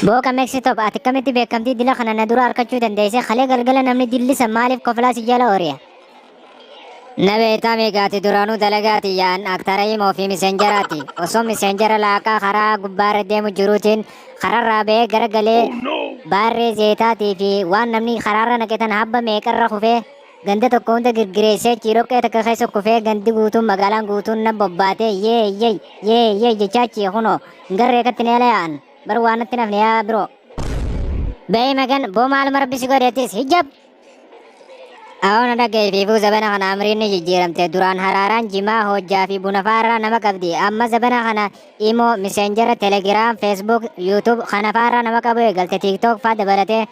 Booka Meksitop ati akkamitti beekamtii dila kana na dura harkachuu dandeesse kalee galgala namni dillisa maaliif koflaa si jala oriya. Na beektaa miigaati duraanuu dalagaati yaan aktara himoo fi miseenjaraati. Osoo miseenjara laaqaa karaa gubbaarra deemu jiruutiin kararraa ba'ee gara galee baarree zeetaatii fi waan namni karaarra naqetan habba meeqarra kufee Ganda tokko hunda girgireessee achii dhoqqee takka keessa kufee gandi guutuun magaalaan guutuun nan bobbaatee yee yee yee yee jechaa achii kunoo hin garree katti neela yaa'an bar waan natti nafne yaa biroo. Ba'ee magan boo maaluma rabbi si godheettis hijab. Awoo na dhaga'e fiifuu zabana kana amriin ni jijjiiramte duraan haraaraan jimaa hojjaa fi buna faarraa nama qabdi amma zabana kana imoo miseenjera telegiraam feesbuuk yuutuub kana faarraa nama qabu eegalte tiiktook faa dabalatee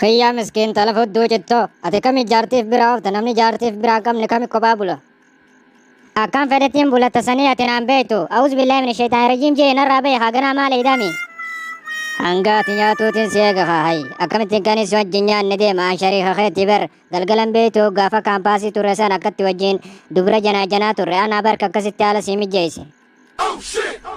Kiyyaa miskiin tala fudduu cittoo ati kami jaartiif biraa oofta namni jaartiif biraa hin qabne kami kophaa bula. Akkan fedhettiin bulatta sanii ati naan beektu awuz billaahi min sheexaan rajiim jee narraa bahi haa ganaa maal eeydami. Hanga ati nyaatuutiin si eega haa hayi akkamittiin kan si wajjin nyaanne deema an shariika keetti bar galgalan beektu gaafa kaampaasii turre san akkatti wajjin dubra janaa janaa turre anaa barka akkasitti haala sii mijjeeyse.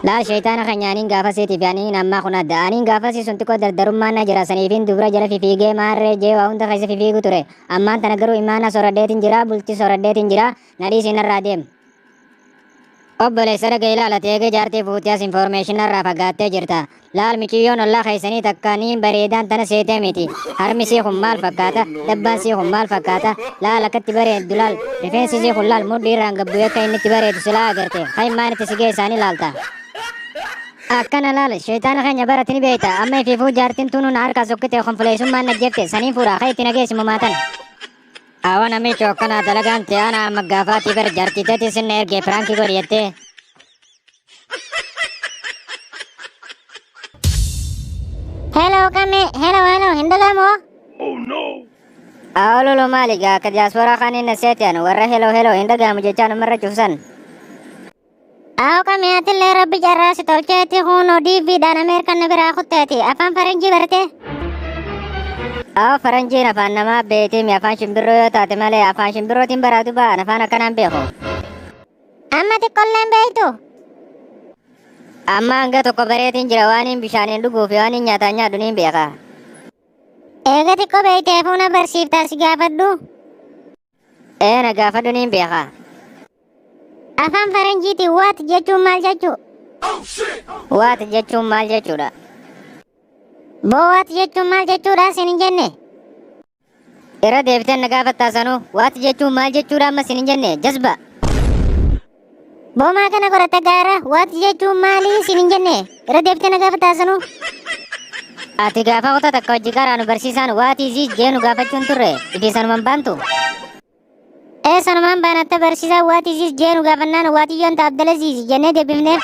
Laal shayxaana keenya aniin gaafasiiti fi aniin ammaa kun adda. Aniin gaafasii sun xiqqoo dardarummaan na jira saniifiin dubra jala fifiigee maarree jee waa hunda keessa fifiigu ture. Ammaan tana garuu imaana soradheetiin jira bultii soradheetiin jira na dhiisii narraa deem. Obboleessa dhaga ilaalati eegee jaartii fuutee as information narraa fagaattee jirta. Laal miciyyoon ollaa keessanii takka niin bareedaan tana seetee miti. Harmi sii kun maal fakkaata? Dabbaan sii kun maal fakkaata? Laal akkatti bareeddu laal. Rifeensi sii kun laal mudhii irraan gabbu akka inni itti bareedu silaa agarte. Kan maan itti si geessaanii laalta. Akkana laal sheeyxaana keenya barati ni beeyta. Amma ifiifuu jaartiin tuunuu na harkaa sokkite konfuleessummaan na jefte saniin fuudha kee itti na geessi mumaatan. Awa namicho akkana dalagaan tiyaana amma gaafaatii bar jaartii teetii sinna ergee piraankii godhi jettee. Hello kami, hello hello, hindi ka mo? Oh no! Ah, lolo mali ga ka diaspora kanin na set yan. Warra hello hello, hindi ka mo jechan umara chusan. Aw kami atin le rabbi jarra si tolche ti huno DV dan Amerika na bira kutte ti. Afan faranji berte. Aw faranji na fan nama beti mi afan shimbiro yo ta ti male afan shimbiro tin baradu ba na fan akanan beko. Amma xiqqollee hin beektu. Amma hanga tokko bareetiin jira waaniin bishaaniin dhuguu fi waaniin nyaataan nyaadhu niin beeka. Eega xiqqoo beektee fuuna barsiiftaa si gaafadhu. Ee na gaafadhu niin beeka. Afaan faranjiitiin waat jechuun maal jechuu? Waat jechuun maal jechuudha? Boo waat jechuun maal jechuudha sin hin jenne? Irra deebitee na gaafattaa sanuu. Waati jechuun maal jechuudha amma sin hin jenne. Jazba. Boomaa kana qorata gaara waati jechuun maali sin hin jenne. Irra deebitee na gaafattaa sanuu. Ati gaafa kutaa takka hojii garaa nu barsiisaan waati ziis jee nu gaafachuun turre. Ifi sanuman baantu. Ee sanumaan baanatta barsiisaa waat isiis jee nu gaafannaan waatiyyoon ta Abdalaziizi jennee deebifneef.